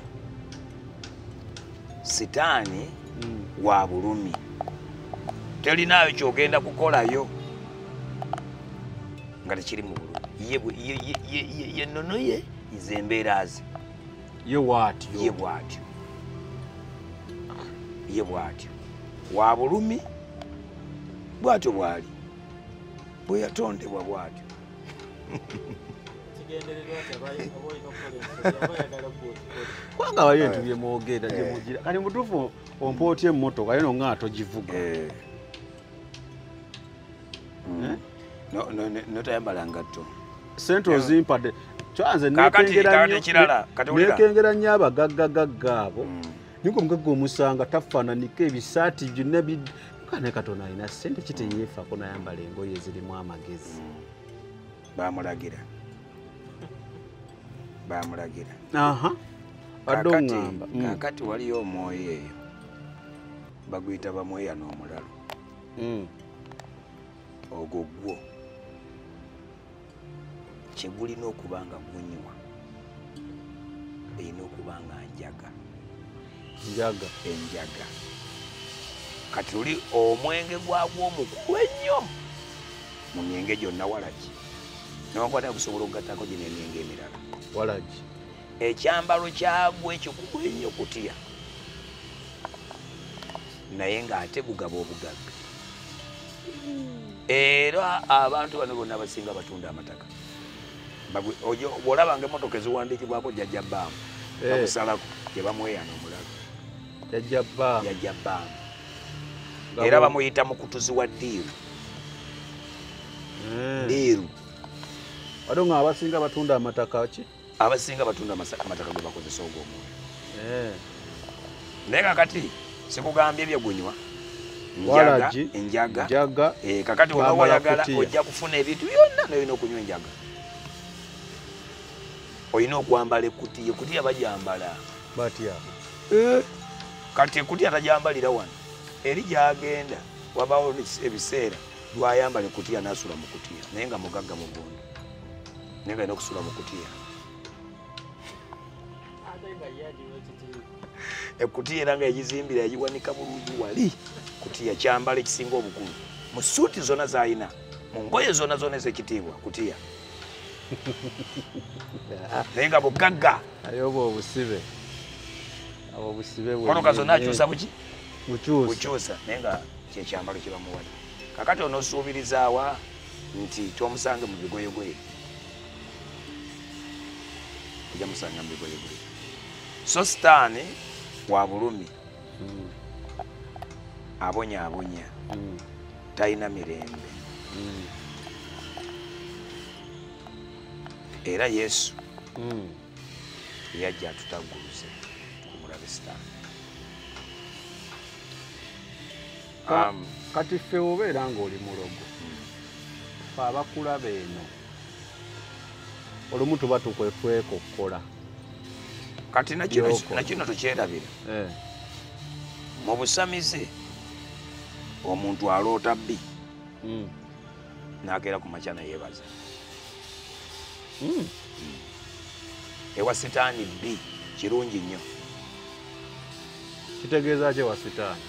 sitaani wa bulumi telinaayo kyogenda kukolayo nga tekiri mu bulumi ye nonoye nze embeera ze ye bwatyo ye bwatyo ye bwatyo wa bulumi bwatyo bwali bwe yatondebwa bwatyo kubanga waliyo ebintu byemwogera eh. gyemugira kati mutuufu ompootya emmotoka yo nonga atogivuga eh. hmm. eh? notayambala ngatto sente ozimpadde kyanze nekengera nnyo abagaggagagga abo hmm. ninga omugagga omusanga tafaananika ebisaati byonna kane katonda alina sente kiteyeefako nayambala engoye ezirimu amagezi hmm. bamulagira bamulagira kakati waliyo omwoyo eyo baguyita bamweya n'omulalo mm. ogwo gwo kyegulina okuba nga gunywa erina okuba nga njaga njaga enjaga kati oli omwenge gwagwo omukulu ennyo mu myenge gyonna walaki nokwata kusobola okugattako gino emyenge emirala walaki ekyambalo kyagwo ekikugu ennyo kutya naye ng'ate gugaba obugagga era abantu bano bonna abasinga batunda amataka olabanga emotoka eziwandiikibwako jajja baamu eh. bamusalako gyebamweyana omulago jajja baamu era bamuyita mukutuzi wa diiru hmm. diiru ate nga abasinga batunda amataka ki abasinga batunda amataka gwe bakozesa ogwo omwoyo eh. naye kakati sikugambye ebyegunywa njaga enjaga eh, kakati wona wayagala ojja kufuna ebintu byonna nolina okunywa enjaga olina okwambala ekutiya ekutiya bajambala batya eh. kati ekutiya tajambalira wano eri gyagenda wabawo ebiseera lwayambala ekutiya nasula mu kutiya naye nga mugagga mugundu naye nga nokusula mukutiya ekutiya era nga yagizimbira yagiwanika bulungi wali kutiya kyambala ekisinga obukulu mu suuti zona zalina mu ngoye zona zona ezekitiibwa kutiya naye nga bugagga naye obwo obusibe abo obusibe konoka zona akyusa buki bukyusa naye nga kyekyambalo kyebamuwali kakati onosuubirizaawa nti tomusange mu bigoyegoye ojja musanga mu bigoyegoye so sitaani wa bulumi mm. abonyabonya mm. talina mirembe mm. era yesu yajja atutagguluze ku mulabe sitaani Um, kati ffe obeera ng'oli mulogo fe abakulaba eno olumu tuba tukwefweka okukola kati nakino tukyerabira eh. mu busamize omuntu aloota bbi hmm. nakeera ku makya nayebaza hmm. hmm. ewa sitaani bbi kirungi nnyo kitegeeza ki ewa sitaani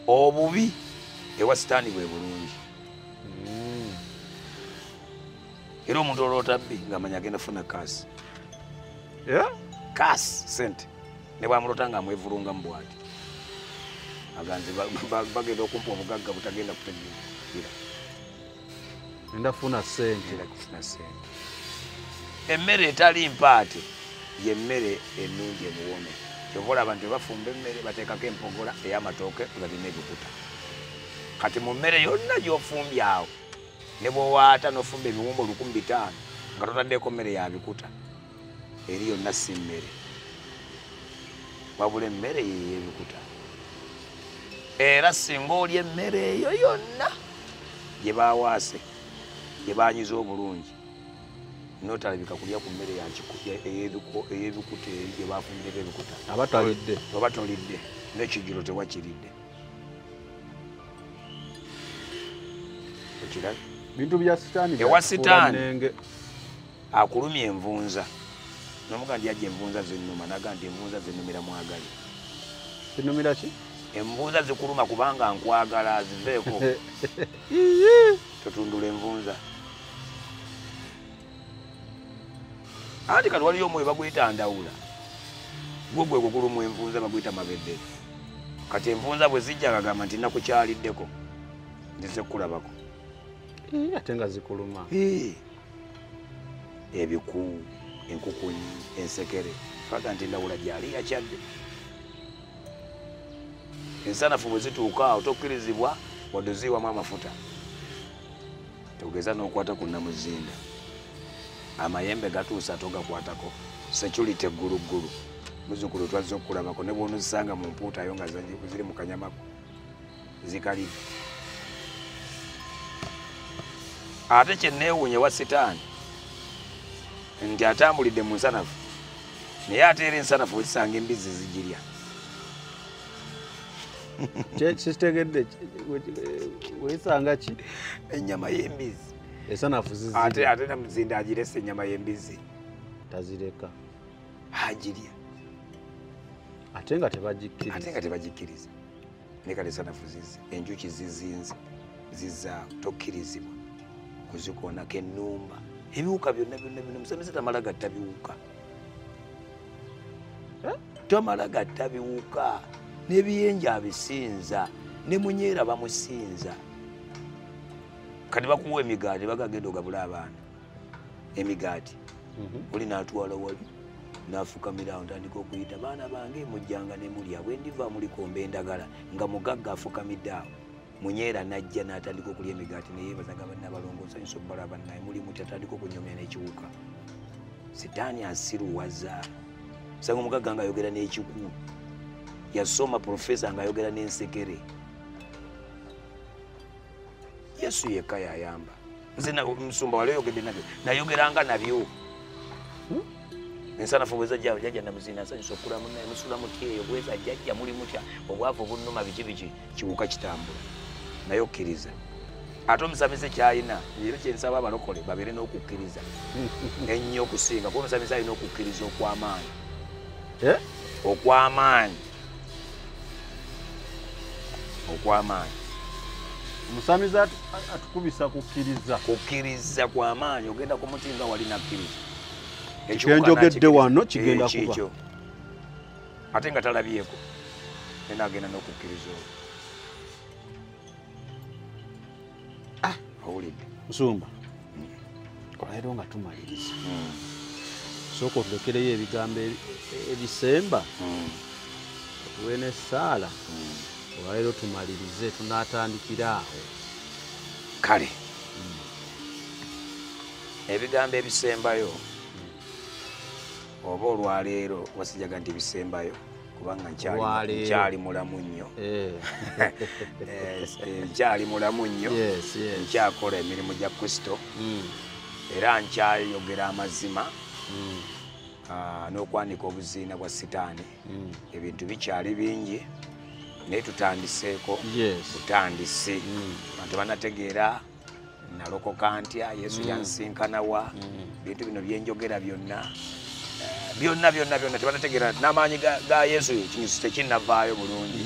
obubi ewa sitaani bwe bulungi hmm. era omuntu oloota bbi ng'amanya agenda funa kaasi kaasi sente ne bwamulota nga amwevulunga mu bwati aganze bagenda okumpa obugagga butagenda kutegeera ndafuna sente kufuna sente emmere etali mpaate yemmere ennungi emuwome kyova olaba nti bafumba emmere bateekako empogola ey'amatooke balina ebikuta kati mu mmere yonna gy'ofumbye awo ne bwowaata n'ofumba ebiwumba olukumi bitaano nga totaddeko mmere ya bikuta eri yonna si mmere wabula emmere yeyebikuta era singa olya emmere eyo yonna gye bawaase gye banyiza obulungi notalabika kulya ku mmere eyebikuta eri gye bafunireko ebikuta oba tolidde nekijjulo tewakiridde okirabye bintu bya sitaani ewa sitaani akulumya envunza nomuga ndi aje envunza zenuma naga ndi envunza zenumira mwagali zinumira ki envunza zikuluma kubanga nkwagala aziveeko totundula envunza anti kati waliyo omwoyo baguyita ndawula gwo gwe gugulumu envunza baguyita mabedde kati envunza bwe zijja kagamba nti nakukyaliddeko nzize kukulabako ate nga zikuluma ebiku enkukunyi ensekere faga nti ndawula gyali yakyadde ensanafu bwe zituuka awo tokkirizibwa wadde oziiwamu amafuta togeza n'okwata ku namuzinda amayembe gatuusa togakwatako security egguluggulu muzukulu twazze okukulabako ne bwonozisanga mu mpuutayo nga ziri mu kanyamako zikalire ate kyenneewuunye wa sitaani nti atambulidde mu nsanafu naye ate era ensanafu wekisanga embizzi zigirya kitegedde wekisanga ki ennyama y'embizzi esanafu ate ate namuzinda agirese ennyama y'embizzi tazireka agirya ate nga tebagikkiriza ne kale sanafu zizi enjuki zizinze ziza tokkirizibwa kuzikoonako ennumba ebiwuka byonna byonna byonna musamize tamala gatta biwuka eh? tamala gatta biwuka n'ebiyenja abisinza ne munyeera bamusinza kati bakuwa emigaati bagagenda ogabula abaana emigaati mhm. oli natwala wali nafukamira awo ntandika okuyita baana bange mujjanga nemulya bwendiva mulikomba endagala nga mugagga afukamidde awo munyeera najja natandika okulya emigaati neyebazaga banabalongosanyusa okubala banaye muli mutya atandika okunyomya nekiwuka sitaani asiruwaza sanga omugagga nga ayogera n'ekikulu yasoma profesa nga ayogera n'ensekere yesu yekka yayamba nze musumba wali oyogedde nabyo nayogeranga nabyo hmm? ensanafu bweza jjalo jajja namuzina nsanyusa okukula munaye musula mutya eyo bweza jajja muli mutya obwavu obunnuma biki biki kiwuka kitambula naye okkiriza ate omusamize kyalina era kyensaba abalokole babeere n'okukkiriza ennyo okusinga kuba omusamize alina okukkiriza okwamaanyi eh? okwamaanyi okwamaanyi omusamize atukubisa kukkiriza kukkiriza kwamaanyi ogenda ku muti nga wali nakkiriza ekyenjogedde wano kigenda eh, kuba ate nga talabyeko naye nagenda n'okukkiriza olwo ah, owulidde musumba olero nga tumaliriza hmm. sooka otulekereyo ebigambo ebisemba hmm. otuwe nesaala hmm. olwalero tumalirize tunatandikira awo kale ebigambo ebisembayo oba olwaleero wasijaga nti bisembayo kubanga nkyali mulamu nnyo eh. Eh, nkyali mulamu nnyo nkyakola emirimu gya kristo hmm. era nkyayogera amazima hmm. ah, n'okwanika obuziina bwa sitaani hmm. ebintu bikyali bingi naye tutandiseeko butandisi bantu banategeera nalokoka ntya yesu mm. yansinkana wa mm. bintu bino byenjogera byonna eh, byonna byonna byonna tebanategeera n'amaanyi ga yesu ekinyusi tekinavaayo bulungi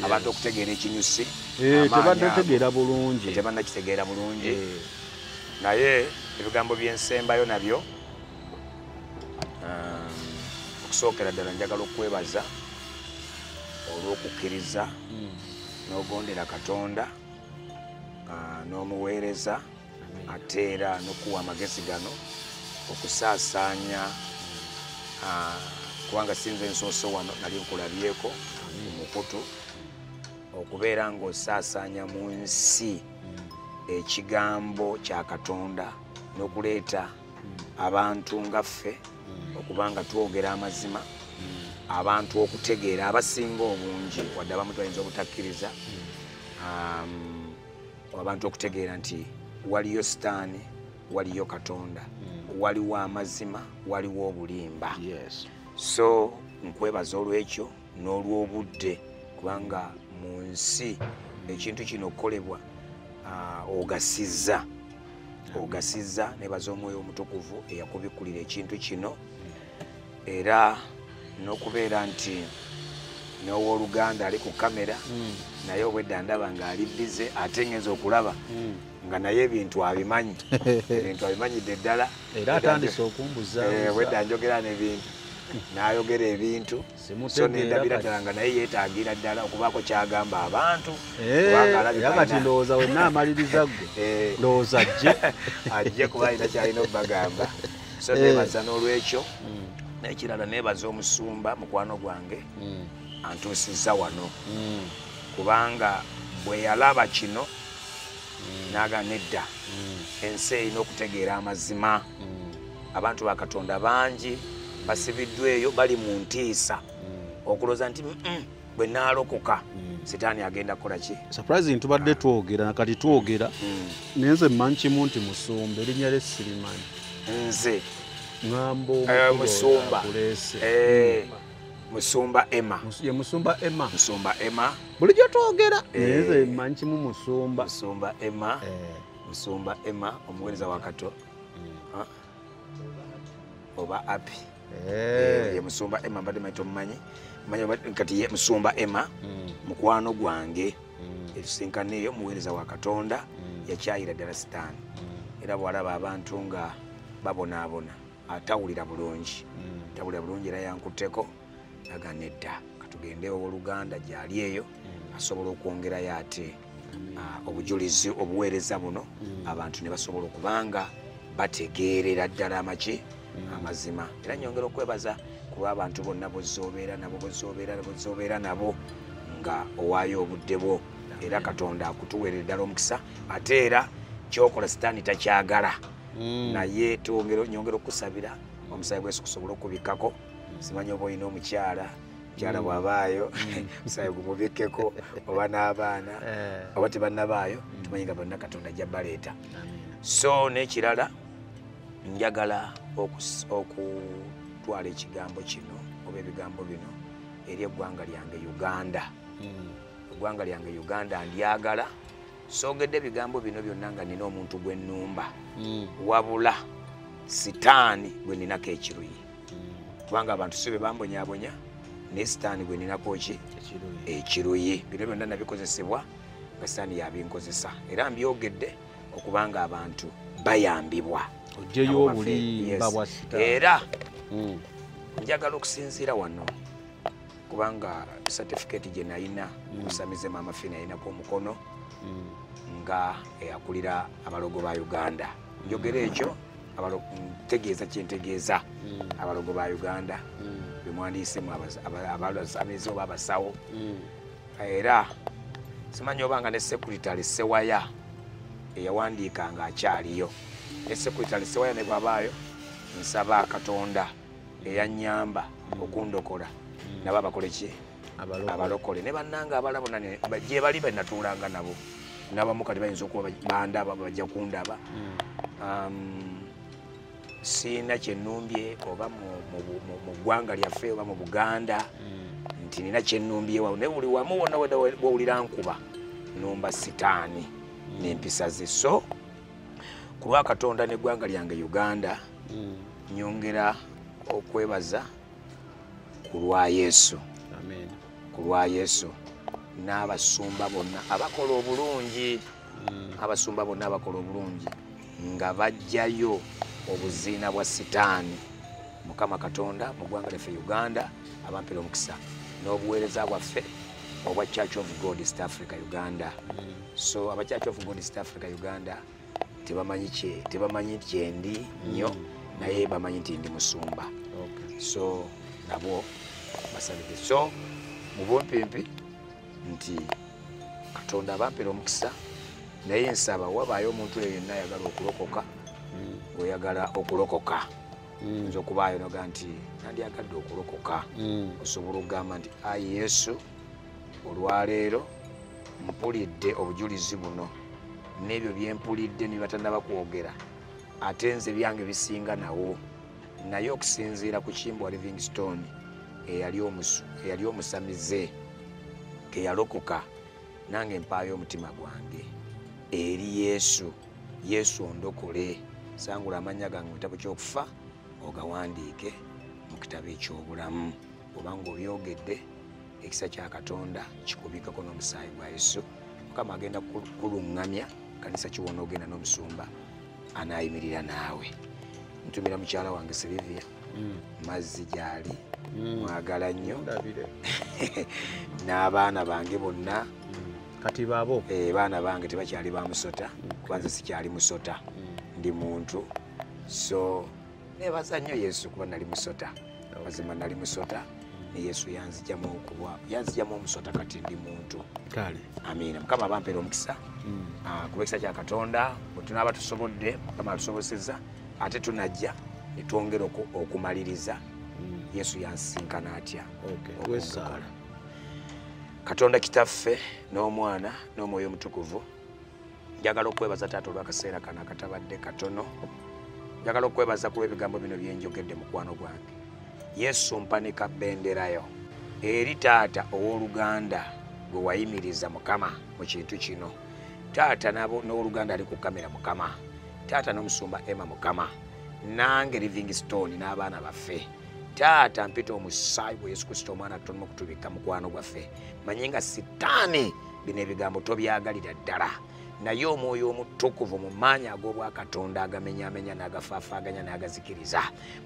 abantu okutegeera ekinyusi eh, tebanategeera bulungi eh, tebanakitegeera bulungi naye ebigambo byensembayo nabyo okusookera ddala njagala okwebaza olw'okukkiriza mm. n'ogondera katonda ah, n'omuweereza ate era nokuwa amagezi gano okusaasaanya ah, kubanga sinze ensoose wano nali nkulabyeko mu mukutu okubeera ng'osaasaanya mu nsi ekigambo kya katonda n'okuleeta abantu nga ffe mm. okuba nga twogera amazima mm. abantu okutegeera abasinga obungi wadde abamu twayinza obutakkiriza mm. um, abantu okutegeera nti waliyo sitaani waliyo katonda waliwo amazima waliwo obulimba so nkwebaza olwekyo n'olw'obudde kubanga mu nsi ekintu kino okukolebwa ah, ogasizza ogasizza nebaza omwoyo omutukuvu eyakubikkulira ekintu kino era n'okubeera nti n'owoluganda ali ku kamera hmm. naye obwedda ndaba ng'ali bize ate ngenza okulaba hmm. nga naye ebintu abimanyi ebintu abimanyidde ddala era atandise okumbuza eh, obwedda njogera n'ebintu n'ayogera ebintu so nendabira ddala nga naye yetagira ddala okubaako kyagamba abantu kati ndowooza wenna amaliriza gwe eh. ndowooza ajje ajje kuba alina kyalina okubagamba so eh. nebaza n'olwekyo hmm. nekirala nebaza omusumba mukwano gwange hmm. antuusiza wano hmm. kubanga bwe yalaba kino naga nedda ensi erina okutegeera amazima abantu ba katonda bangi basibiddwa eyo bali mu ntiisa mm. okulooza nti bwe naalokoka mm. sitaani agenda kukola ki surprising tubadde ah. twogera nakati twogera mm. naye nze mmanyi kimu nti musumba erinnya lye sirimanyi nze ŋambo eh, musumba eh, musumba emma ye musumba emma musumba emma bulijjo twogera eh. naye nze mmanyi kimu musumba musumba emma musumba emma omuweereza wa kato mm. oba api eh. ye musumba emma mbadde manyi tomumanyi manyi kati ye musumba emma mm. mukwano gwange etusinkaneeyo muweereza wa katonda yakyayira ddala sitaani era bwalaba abantu nga babonaabona atawulira bulungi tawulira bulungi era yankutteko naga nedda katugende owoluganda gyali eyo mm. asobola okwongerayo ate mm. ah, obujulizi obuweereza buno mm. abantu ne basobola okubanga bategeerera ddala amaki amazima era nyongera okwebaza kuba abantu bonna bozoobeera nabo bozoobeera bozoobeera nabo nga owaayo obudde bwo era katonda akutuweerera ddala omukisa ate era kyokola sitaani takyagala naye nyongera okukusabira omusaayi gwesu kusobola okubikkako simanya oba olina omukyala mukyala mm. bwabaayo mm. musaayi gumubikkeko oba n'abaana eh. oba tebannabaayo mm. tumanyi nga bonna katonda ajja baleeta so n'ekirala njagala okutwala ekigambo kino oba ebigambo bino eri eggwanga lyange uganda eggwanga lyange uganda ndyagala sogedde ebigambo bino byonna nga nina omuntu gwe nnumba wabula sitaani gwe ninako ekiruyi kubanga abantu si be bambonyabonya naye sitaani gwe ninako ki ekiruyi eh, bino byonna nabikozesebwa nga sitaani yabinkozesa era mbyogedde okubanga abantu bayambibwa ojeyo obulimba bwa sitaani era hmm. njagala okusinziira wano kubanga certificate gye nalina hmm. musamize maama fina yalinako omukono hmm. nga eyakulira abalogo ba uganda njogera ekyo ntegeeza kyentegeeza mm. abalogo ba uganda mm. bemwandiisemu abalamizi oba abasawo mm. era simanyi oba nga ne sekuritale sewaya eyawandiika nga akyaliyo ne sekuritale sewaya ne bwabaayo nsaba katonda eyanyamba okundokola nabo abakoleki abalokole ne bannanga abala bona gye bali be natuulanga nabo nabamu kati bayinza okuba bandaba bajja kundaba hmm. um, siina kyenumbye oba mu ggwanga lyaffe oba mu buganda hmm. nti nina kyenumbyewa naye buli wamu wona wawulira nkuba numba sitaani hmm. nempisa ze so ku lwa katonda neggwanga lyange uganda nyongera okwebaza ku lwa yesu ku lwa yesu n'abasumba bonna abakola obulungi mm. abasumba bonna abakola obulungi nga bajjayo obuziina bwa sitaani mukama katonda mu ggwanga lyaffe uganda abampera omukisa n'obuweereza bwaffe obwa church of god east africa uganda mm. so aba church of god east africa uganda tebamanyi kye tebamanyi kyendi nnyo mm. naye bamanyi nti ndi musumba so nabo basabide so mu bumpimpi nti katonda abampera omukisa naye nsaba wabaayo omuntu eyo yenna ayagala okulokoka mm. oyagala okulokoka mm. nza okubaayo noga nti nandyagadde okulokoka osobola okugamba nti ayi yesu olwaleero mpulidde obujulizi buno n'ebyo bye mpulidde nibatanaba kwogera ate nze byange bisinga nawo naye okusinziira ku kimbwa livingstone eyali omusamize teyalokoka nange mpaayo omutima gwange eri yesu yesu ondokole sangula amannya gange mu kitabo ky'okufa ogawandiike mu kitabo eky'obulamu obanga obyogedde ekisa kya katonda kikubikako n'omusaayi gwa yesu mukama agenda kuluŋŋamya kanisa kiwona ogenda n'omusumba anaayimirira naawe ntumira mukyala wange silivia mm. mazzi gyali mm. mwagala nnyo n'abaana bange bonna mm. kati babo eh, baana bange tebakyali ba musota kubanze sikyali musota ndi muntu so nebaza nnyo yesu kuba nali musota mazima nali musota ne yesu yanzijamu okuba yanzijamu omusota kati ndi muntu kale amiina mukama abampera omukisa hmm. ah, kuba ekisa kya katonda bwetunaaba tusobodde mukama atusoboseza ate tunajja netwongera okumaliriza hmm. yesu yansisinkana atya wesaala katonda kitaffe n'omwana n'omwoyo omutukuvu njagala okwebaza taata olwakaseera kano akatabadde katono njagala okwebaza kuba ebigambo bino byenjogedde mukwano gwange yesu mpanika benderayo eri taata ow'oluganda gwe wayimiriza mukama mu kintu kino taata n'owoluganda ali ku kamera mukama taata n'omusumba emma mukama nange living stone n'abaana baffe taata mpita omusaayi gwe yesu kristo omwana tonomu kutubikka mukwano gwaffe manye nga sitaani bino ebigambo tobyagalira ddala naye omwoyo omutukuvu mu maanyi ag'obwakatonda agamenyamenya n'agafaafaganya n'agazikiriza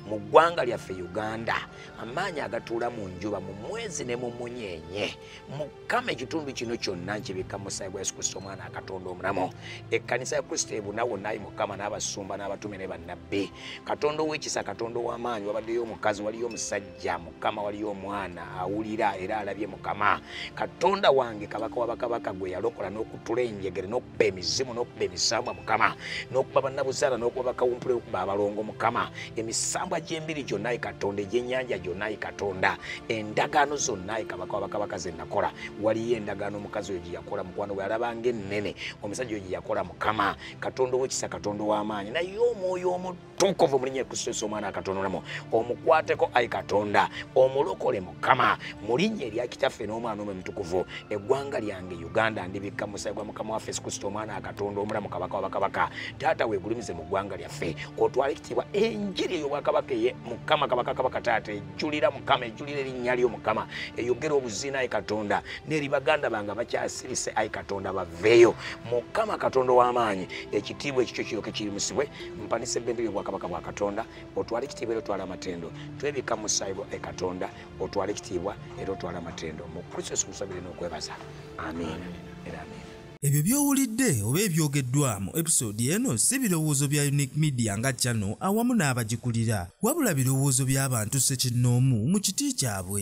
mu ggwanga lyaffe uganda amaanyi agatuula mu njuba mu mwezi ne mu munyeenye mukama ekitundu kino kyonna nkibikka mu musaayi gwa yesu kristo omwana akatonda omulamu ekkanisa ya kristo ebuna wonna ayi mukama n'abasumba n'abatume ne bannabbi katonda ow'ekisa katonda ow'amaanyi wabaddeyo omukazi waliyo omusajja ya mukama waliyo omwana awulira era alabye mukama katonda wange kabaka wabakabaka gwe yalokola n'okutula enjegere n'okuba emizimu n'okuba emisambwa mukama n'okuba bannabuzaala n'okuba bakawumpula okuba abalongo mukama emisambwa gy'embiri gyonna ye katonda egyenyanja gyonna ye katonda endagaano zonna ye kabaka wabakabaka ze nakola waliyo endagaano omukazi oyo gye yakola mukwano bwe yalabanga ennene omusajja oyo gye yakola mukama katonda owekisa katonda ow'amaanyi naye omwoyo omutu tukuvu mulinye kususa omwana akatonolamu omukwateko ai katonda omulokole mukama mulinye erya kitaffe n'omwana omwe mutukuvu eggwanga lyange uganda ndibikka musayi gwa mukama waffe sikusta omwana akatonda omulamu kabaka wabakabaka taata wegulumize mu ggwanga lyaffe otwala ekitiibwa enjiri ey'obwakabaka eye mukama kabaka kabaka taata ejulira mukama ejulira erinnya lyo mukama eyogera obuzina ai katonda neri baganda bange abakyasirise ai katonda baveeyo mukama katonda w'amaanyi ekitiibwa ekikyo kiroke kirimusibwe mpanisa ebbendera y'obwakabaka bwa katonda otwala ekitiibwa era otwala amatendo twebika mu saibo e katonda otwala ekitiibwa era otwala amatendo mu kristo yesu musabire n'okwebaza amiina era amiina ebyo by'owulidde oba ebyogeddwamu episode eno si birowoozo bya unique media nga cano awamu n'abagikulira wabula birowoozo by'abantu sekinnoomu mu kiti kyabwe